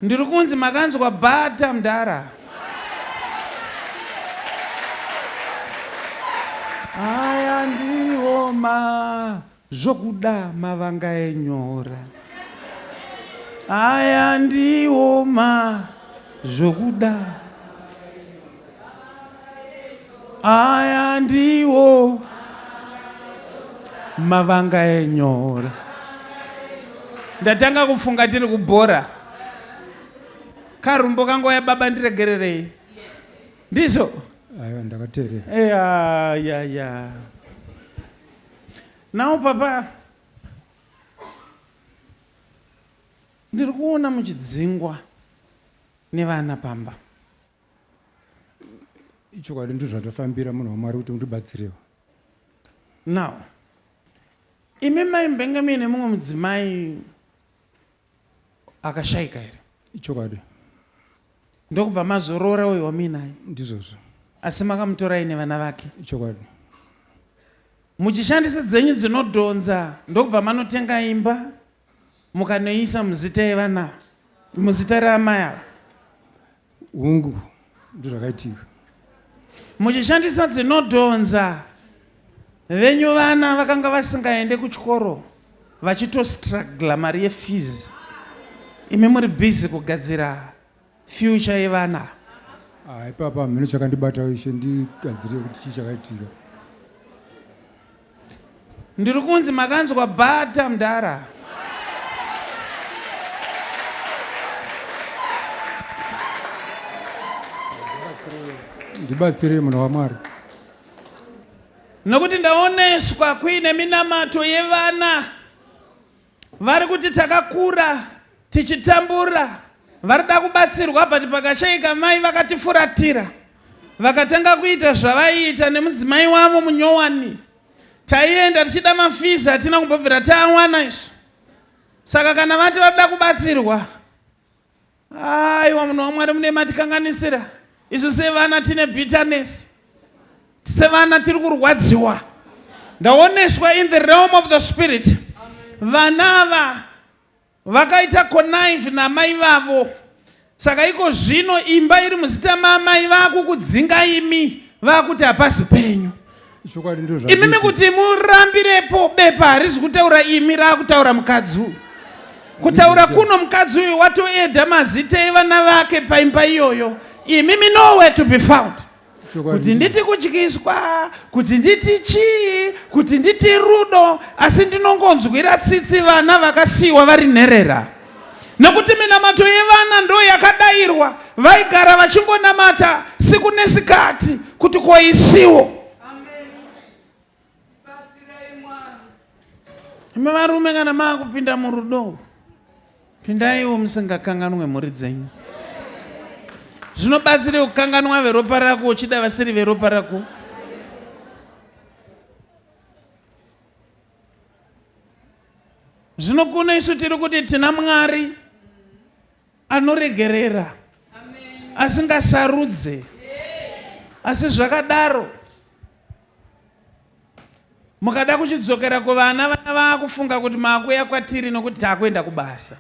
Ndiri kunzi makanzwa bata mdara. Aya ndiwo ma zvokuda mavanga enyora. Aya ndiwo ma zvokuda. aya ndiwo mavanga enyora ndatanga kufunga tiri kubhora karumbo kango ya baba ndiregererei ndizvo aiwa ndakateerera eya ya ya nawo papa ndiri kuona muchidzingwa nevana pamba ichokwadi ndizvo zvatofambira munhu wamwari kuti undibatsirewo now imi mai mbenge muine mumwe mudzimai akashaika here ichokwadi ndokubva mazoroora uyo wamuinaye ndizvozvo asi makamutora ine vana vake ichokwadi muchishandisa dzenyu dzinodhonza ndokubva manotenga imba mukanoiisa muzita yevanava muzita reamai ava Hungu, ndozvakaitika. Muchishandisa dzinodhonza, venyu vana vakanga vasingaende kuchikoro vachitostragla mari yefees. Imi muri busy kugadzira future yevana. Ah, ipapa hameno chakandibata ishe ndigadzire kuti chii chakaitika. Ndiri kunzi makanzwa bata mdara. Ndibatsirei munhu waMwari. Nokuti ndaoneswa kuine minamato yevana. Vari kuti takakura tichitambura varida kubatsirwa but pakashaika mai vakatifuratira vakatanga kuita zvavaiita nemudzimai wavo munyowani taienda tichida mafizi hatina kumbobvira taawana isu saka kana vati varida kubatsirwa aiwa munhu wamwari mune matikanganisira isu sevana tine bitterness sevana tiri kurwadziwa ndaoneswa in the realm of the spirit vana ava vakaita connive namai vavo saka iko zvino imba iri muzita maamai vakukudzinga imi vakuti hapasi penyu chokwadi ndozva imimi kuti murambirepo bepa harizi kutaura imi raakutaura mukadzi uyu kutaura kuno mukadzi uyu watoeda mazita evana vake paimba iyoyo imimi nowhere to be found kuti nditi kudyiswa kuti nditi chii kuti nditi rudo asi ndinongonzwira tsitsi vana vakasiyiwa vari nherera nekuti minamato yevana ndo yakadairwa vaigara vachingonamata siku nesikati kuti ko isiwo imi varume kana maakupinda murudo pindaiwo musingakanganwe mhuri dzenyu zvinobatsira kukanganwa veropa rako uchida vasiri veropa rako Zvino kuno isu tiri kuti tina Mwari anoregerera asingasarudze asi zvakadaro mukada kuchidzokera kuvana vana vaakufunga kuti maakuya kwatiri nokuti taakuenda kubasa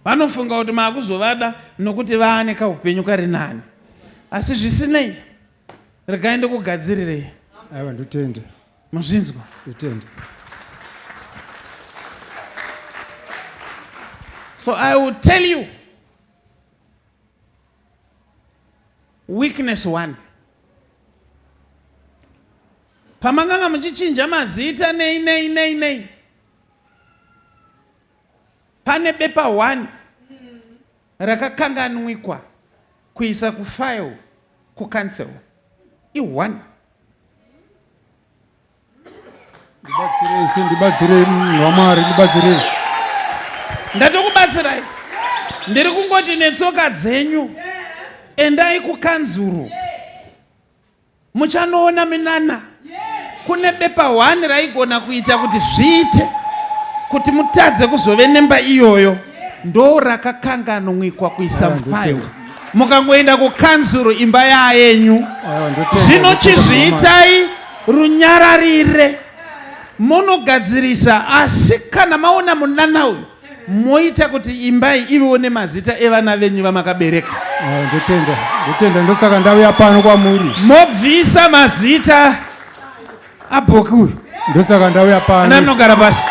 vanofunga kuti maakuzovada nokuti vaane kaupenyu kari nani asi zvisinei regai ndikugadzirirei aiwa ndotenda muzvinzwa zitende so i will tell you weakness one pamakanga muchichinja mazita nei nei nei nei pane bepa one rakakanganwikwa kuisa kufile kucancel i one ndibatsirei ndibatsirei vamwari mm, ndibatsirei ndatokubatsirai ndiri kungoti netsoka dzenyu endai kukanzuru muchanoona minana kune bepa hwani raigona kuita kuti zviite kuti mutadze kuzove nemba iyoyo ndo rakakanganwikwa kuisa mufayo mukangoenda kukanzuru imba yayenyu zvino chizviitai runyararire monogadzirisa asi kana maona munana uyu moita kuti imbai ivewo nemazita evana venyu vamakabereka eh, ndotenda ndotenda ndosaka ndauya pano kwamuri mobvisa mazita Abhoki uyu. Ndosaka ndauya pano. Ana anogara pasi.